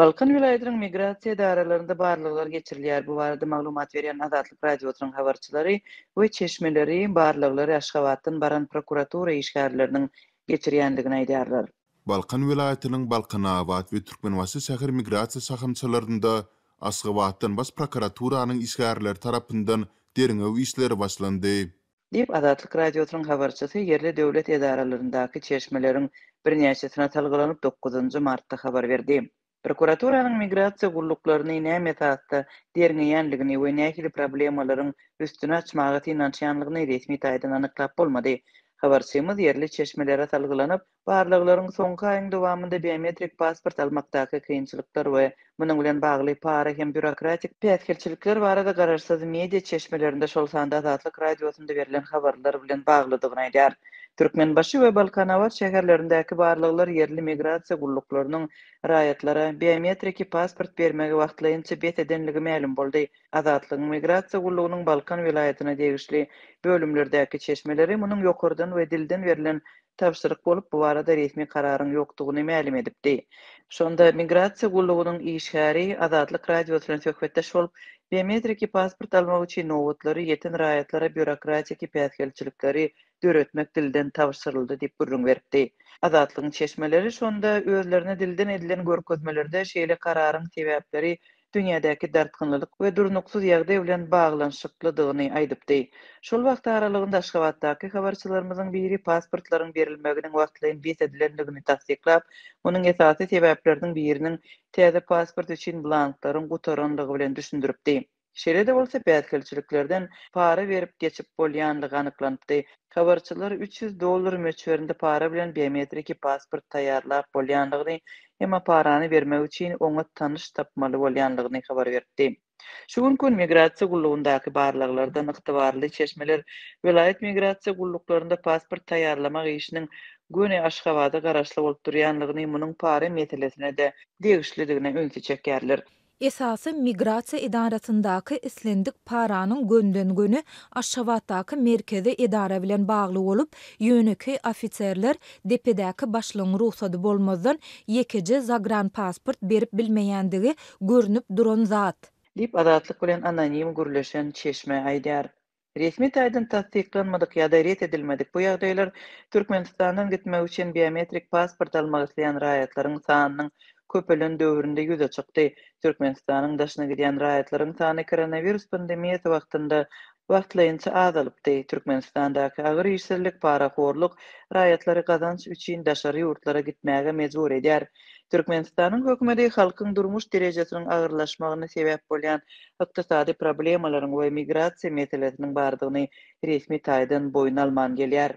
Balkan welaýatynyň migrasiýa edaralarynda barlaglar geçirilýär. Bu barada maglumat berýän Azatlyk Radiosynyň habarçylary we çeşmeleri barlaglary Aşgabatdan baran prokuratura işgärleriniň geçirýändigini aýdýarlar. Balkan welaýatynyň Balkanabat we Türkmenbaşy şäher migrasiýa şahamçalarynda Aşgabatdan Baş prokuraturanyň işgärleri tarapyndan derňew işleri başlandy. diýip, Azatlyk Radiosynyň habarçysy ýerli döwlet edaralaryndaky çeşmeleriň birnäçesine salgylanyp, dokuzynjy martda habar berdi. Prokuraturanyň migrasiýa gulluklaryny näme esasda derňeýänligini we nähili problemalaryň üstüni açmaga synanyşýanlygyny resmi taýdan anyklap bolmady. Habarçymyz ýerli çeşmelere salgylanyp, Barlaglaryň soňky aýyň dowamynda biometrik pasport almakdaky kynçylyklar we munuň bilen bagly para hem býurokratik päsgelçilikler barada garaşsyz media çeşmelerinde, şol sanda Azatlyk Radiosynda berlen habarlar bilen baglydygyny aýdýar. Türkmenbaşy we Balkanabat şäherlerindäki barlaglar ýerli migrasiýa gulluklarynyň raýatlara biometriki pasport bermegi wagtlaýynça bes edenligi mälim boldy. Azatlygyň Migrasiýa gullugynyň Balkan welaýatyna degişli bölümlerdäki çeşmeleri munuň ýokardan we dilden berlen tabşyryk bolup, bu barada resmi kararyň ýokdugyny mälim edipdi. Şonda Migrasiýa gullugynyň işgäri Azatlyk Radiosy bilen söhbetdeş bolup, biometriki pasport almak üçin nobatlary, ýeten raýatlara býurokratiki päsgelçilikleri döretmek dilden tabşyryldy diýip gürrüň beripdi. Azatlygyň çeşmeleri şonda özlerine dilden edilen görkezmelerde şeýle kararyň sebäpleri dünýädäki dartgynlylyk we durnuksyz ýagdaý bilen baglanyşyklydygyny aýdypdy. Şol wagt aralygynda Aşgabatdaky habarçylarymyzyň biri pasportlaryň berilmeginiň wagtlaýyn bes edilendigini tassyklap, munuň esasy sebäpleriniň biriniň täze pasport üçin blanklaryň gutarandygy bilen düşündiripdi. Şeýle-de bolsa, päsgelçiliklerden para berip geçip bolýanlygy anyklanypdy. Habarçylar üç ýüz dollar möçberinde para bilen biometriki pasport taýýarlap bolýandygyny hem aparany bermek üçin oňat tanyş tapmaly bolýandygyny habar beripdi. Şu günki gün Migrasiýa gullugyndaky barlaglardan ygtybarly çeşmeler welaýat migrasiýa gulluklarynda pasport taýýarlamak işiniň göni Aşgabada garaşly bolup durýandygyny, munuň para meselesine-de degişlidigine ünsi çekýärler. Esasy migrasiýa edarasyndaky islendik paranyň gönden-göni Aşgabatdaky merkezi edara bilen bagly bolup, ýönekeý ofiserler depedäki başlygyň rugsady bolmazdan ýekeje zagranpasport berip bilmeýändigi görnüp duran zat. Diýip, Azatlyk bilen anonim gürleşen çeşme aýdýar. Resmi taýdan tassyklanmadyk ýa-da ret edilmedik bu ýagdaýlar Türkmenistandan gitmek üçin biometrik pasport almak isleýän raýatlaryň sanynyň köpelen döwründe ýüze çykdy. Türkmenistanyň daşyna gidýän raýatlaryň sany koronawirus pandemiýasy wagtynda wagtlaýynça azalypdy. Türkmenistandaky agyr işsizlik, parahorluk raýatlary gazanç üçin daşary ýurtlara gitmäge mejbur edýär. Türkmenistanyň hökümeti halkyň durmuş derejesiniň agyrlaşmagyna sebäp bolýan ykdysady problemalaryň we migrasiýa meselesiniň bardygyny resmi taýdan boýun alman gelýär.